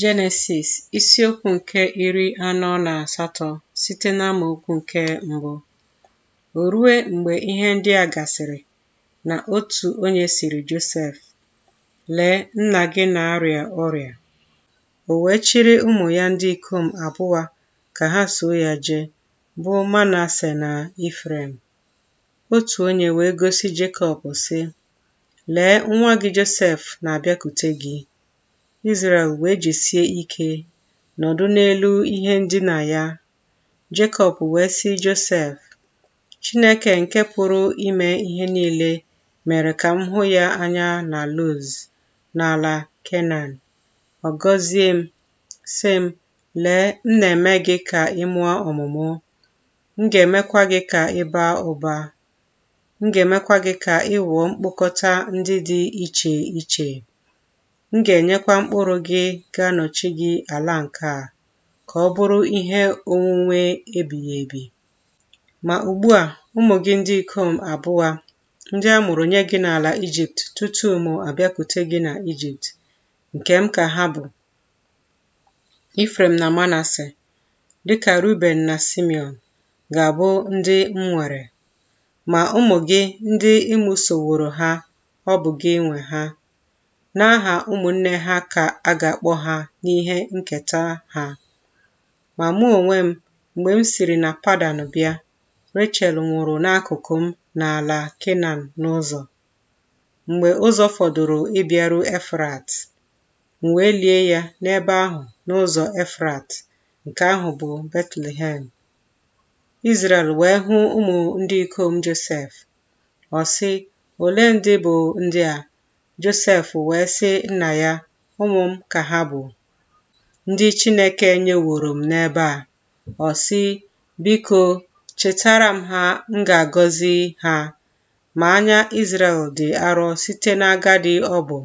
Jenesis isiokwu nke iri anọ na asatọ site n'amaokwu nke mbụ. O rue mgbe ihe ndị a gasịrị na otu onye sịrị Josef, Lee, nna gị na-arịa ọrịa. O wee chịrị ụmụ ya ndị ikom abụa ka ha soo ya jee, bụ Manase na Ifrem. Otu onye wee gosi Jekọb, sị, Lee, nwa gị Josef na-abịakute gị. Izrel wee jisie ike nọdụ n'elu ihe ndina ya. Jekọb wee sị Josef, Chineke nke pụrụ ime ihe niile mere ka m hụ ya anya na Luz, n'ala Kenan. Ọ gọzie m, sị m, Lee, m na-eme gị ka ị mụọ ọmụmụ, m ga-emekwa gị ka ị baa ụba. M ga-emekwa gị ka ị ghọọ mkpokọta ndị dị iche iche. M ga-enyekwa mkpụrụ gị ga-anọchi gị ala nke a, ka ọ bụrụ ihe onwunwe ebighị ebi. Ma ugbu a, ụmụ gị ndị ikom abụa, ndị a mụrụ nye gị n'ala Ijipt tutu mụ abịakute gị na Ijipt, nke m ka ha bụ, Ifrem na Manase, dị ka Ruben na Simeon, ga-abụ ndị m nwere. Ma ụmụ gị ndị ị mụsoworo ha, ọ bụ gị nwe ha. N'aha ụmụnne ha ka a ga-akpọ ha n'ihe nketa ha. Ma mụ onwe m, mgbe m siri na Padan bịa, Rechel nwụrụ n'akụkụ m n'ala Kenan n'ụzọ. Mgbe ụzọ fọdụrụ ịbịaru Efrat, M wee lie ya n'ebe ahụ n'ụzọ Efrat, nke ahụ bụ Betlehem. Izrel wee hụ ụmụ ndị ikom Josef. Ọ sị, Ole ndị bụ ndị a? Josef wee sị nna ya, Ụmụ m ka ha bụ, ndị Chineke nyeworo m n'ebe a. Ọ sị, Biko, chịtara m ha, m ga-agọzi ha. Ma anya Izrel dị arọ site n'agadi ọ bụ.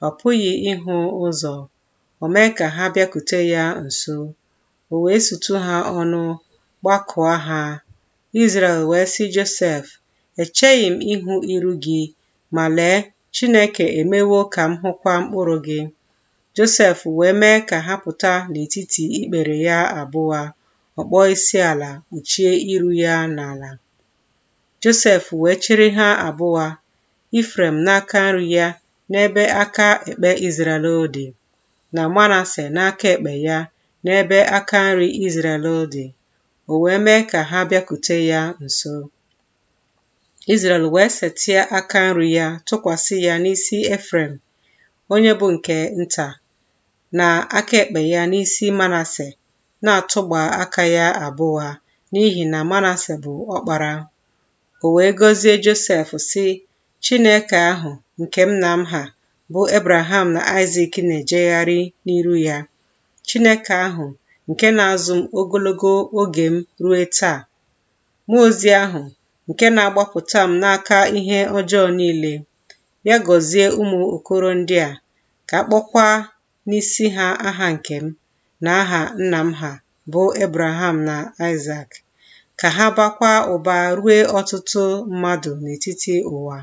Ọ pụghị ịhụ ụzọ. O mee ka ha bịakute ya nso, o wee sutu ha ọnụ, gbakụọ ha. Izrel wee sị Josef, Echeghị m ịhụ iru gị, ma lee, Chineke emewo ka m hụkwa mkpụrụ gị. Josef wee mee ka ha pụta n'etiti ikpere ya abụa, ọ kpọọ isi ala, kpuchie iru ya n'ala. Josef wee chịrị ha abụa, Ifrem n'aka nri ya n'ebe aka ekpe Izrel dị, na Manase n'aka ekpe ya n'ebe aka nri Izrel dị, o wee mee ka ha bịakute ya nso. Izrel wee setịa aka nri ya tụkwasị ya n'isi Efrem, onye bụ nke nta, na aka ekpe ya n'isi Manase, na-atụgba aka ya abụa, n'ihi na Manase bụ ọkpara. O wee gọzie Josef, sị, Chineke ahụ nke nna m ha, bụ Abraham na Aịzik na-ejegharị n'iru ya, Chineke ahụ nke na-azụ m ogologo oge m rue taa, mmụọ ozi ahụ nke na-agbapụta m n'aka ihe ọjọọ niile, ya gọzie ụmụ okoro ndị a, ka a kpọkwa n'isi ha aha nke m na aha nna m ha, bụ Ebraham na Aịsak, ka ha bakwa ụba rue ọtụtụ mmadụ n'etiti ụwa.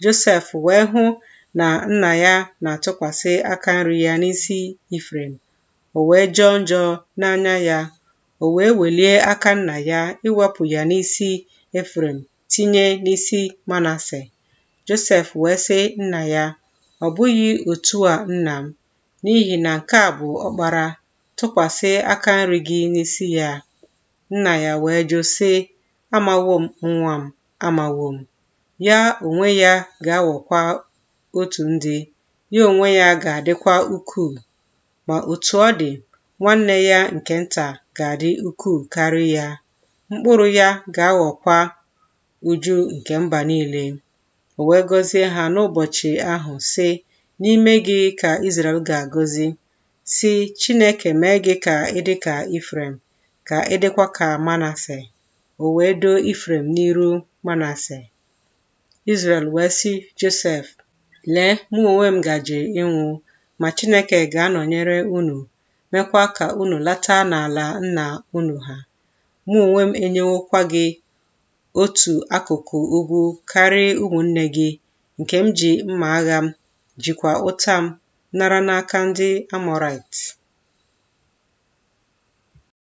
Josef wee hụ na nna ya na-atụkwasị aka nri ya n'isi Efrem, o wee jọọ njọ n'anya ya, o wee welie aka nna ya iwepụ ya n'isi Efrem tinye n'isi Manase. Josef wee sị nna ya, Ọ bụghị otu a nna m, n'ihi na nke a bụ ọkpara, tụkwasị aka nri gị n'isi ya. Nna ya wee jụ sị, Amawo m nwa m, amawo m. Ya onwe ya ga-aghọkwa otu ndị, ya onwe ya ga-adịkwa ukwuu. Ma otu ọ dị, nwanne ya nke nta ga-adị ukwuu karị ya. mkpụrụ ya ga-aghọkwa uju nke mba niile. O wee gọzie ha n'ụbọchị ahụ, sị, N'ime gị ka Izrel ga-agọzi, sị, Chineke mee gị ka ị dị ka Efrem, ka ị dịkwa ka Manase. O wee doo Efrem n'iru Manase. Izrel wee sị Josef, Lee, mụ onwe m gaje ịnwụ, ma Chineke ga-anọnyere unu mekwa ka unu lata n'ala nna unu ha. Mụ onwe m enyewokwa gị otu akụkụ ugwu karị ụmụnne gị, nke m ji mma agha m, jikwa ụta m nara n'aka ndị Amọraịt.